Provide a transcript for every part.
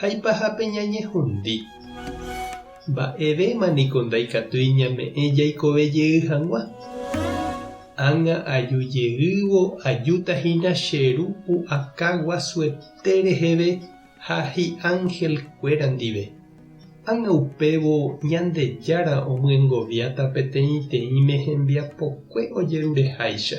Haipaha peñañehundi. Mba'evéma niko ndaikatúi ñame'ẽ jaikove jey hag̃ua. Ág̃a aju jeývo ajúta hína che Ru pu'aka guasuete reheve ha hi'ángel kuéra ndive. Ág̃a upévo Ñandejára omyengoviáta peteĩteĩme hembiapokue ojerureháicha.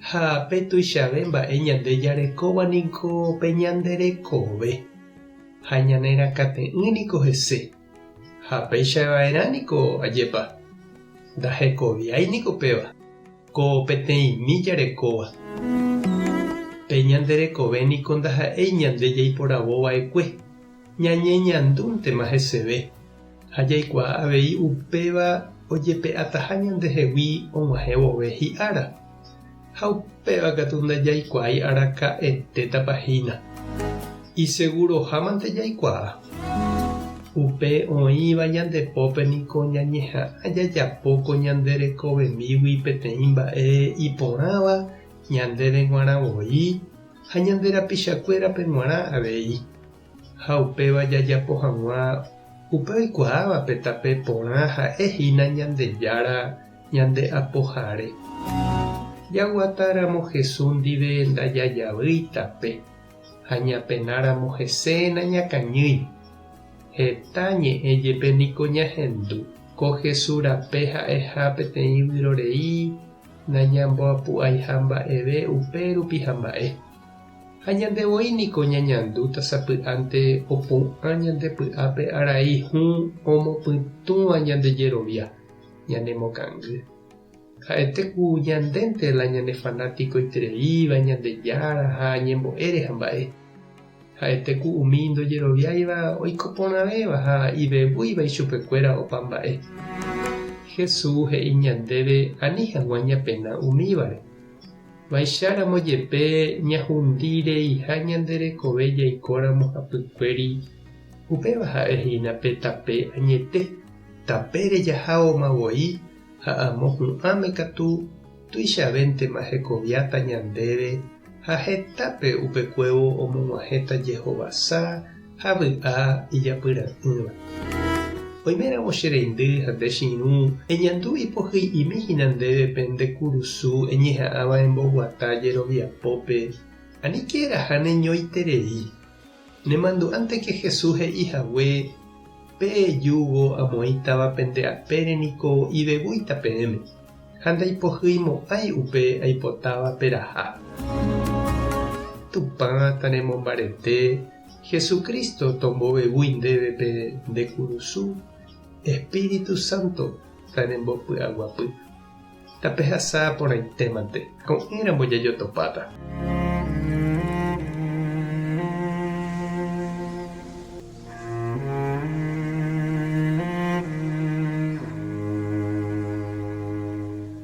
Ha pe tuichave mba'e ñande jarekóva niko pe ñande rekove, ha ñane rakãte'ỹ niko hese. Ha péicha va'erã niko ajépa, ndahekoviái niko péva, ko peteĩmi jarekóva. Pe ñande rekove niko ndaha'éi ñande jaiporavo va'ekue. Ñañeñandúntema heseve ha jaikuaa avei upéva ojepe'ataha ñandehegui og̃uahẽ vove hi'ára, ha upéva katu ndajaikuaái araka'etétapa hína. Isegurohámante jaikuaa. Upe oĩva ñande pópe niko ñañeha'ã jajapo ko ñande rekovemígui peteĩ mba'e iporãva ñandéve g̃uarã voi, ha ñande rapichakuérape g̃uarã avei, ha upéva jajapo hag̃ua upe oikuaávape tape porã ha'e hína Ñandejára ñande Apohare. Jaguata ramo Hesu ndive ndajajavýi tape, ha ñapena ramo hese nañakañýi. Heta ñe'ẽ jepe niko ñahendu, ko Hesu rape ha'eha peteĩ vyrorei Nañamboapu'aiha mba'eve upe rupi hamba'e. Ha ñande voi niko ñañandúta sapy'ánte opu'ã ñande py'ápe arai hũ omopytũva ñande jerovia, ñanemokangy. Ha'ete ku ñandénte la ñane fanático itereíva Ñandejára ha ñembo'ére hamba'e. Ha'ete ku umi ndojeroviáiva oiko porãvéva ha ivevúiva ichupekuéra opa mba'e. Jesús he'i ñandéve ani hag̃ua ñapena umívare. Vaicharamo jepe ñahundi reiha ñande rekove jaikóramo hapykuéri, upéva ha'e hína pe tape añete, tapére jahágoma voi ha amo hu'ãme katu. Tuichavéntema hekoviáta ñandéve ha hetápe upekuévo omog̃uahẽta jehovasa ha vy'a ijapyra'ỹva. Oiméramo che reindy ha nde che irũ, eñandu ipohy'imi hína ndéve pende kurusu eñeha'ãva emboguata jeroviapópe, aníke eraha neñoiterei. Nemandu'ánteke Jesús he'i hague, Pe júgo amoĩtava pende apére niko ivevúita peẽme, ha ndaipohyimo'ãi upe aipotáva peraha. Tupã tanemombarete, Jesús Cristo tombovevúi ndéve pe nde kurusu, Espíritu Santo tanembopy'aguapy. Tapehasa porãitémante, ko'ẽramo jajotopáta.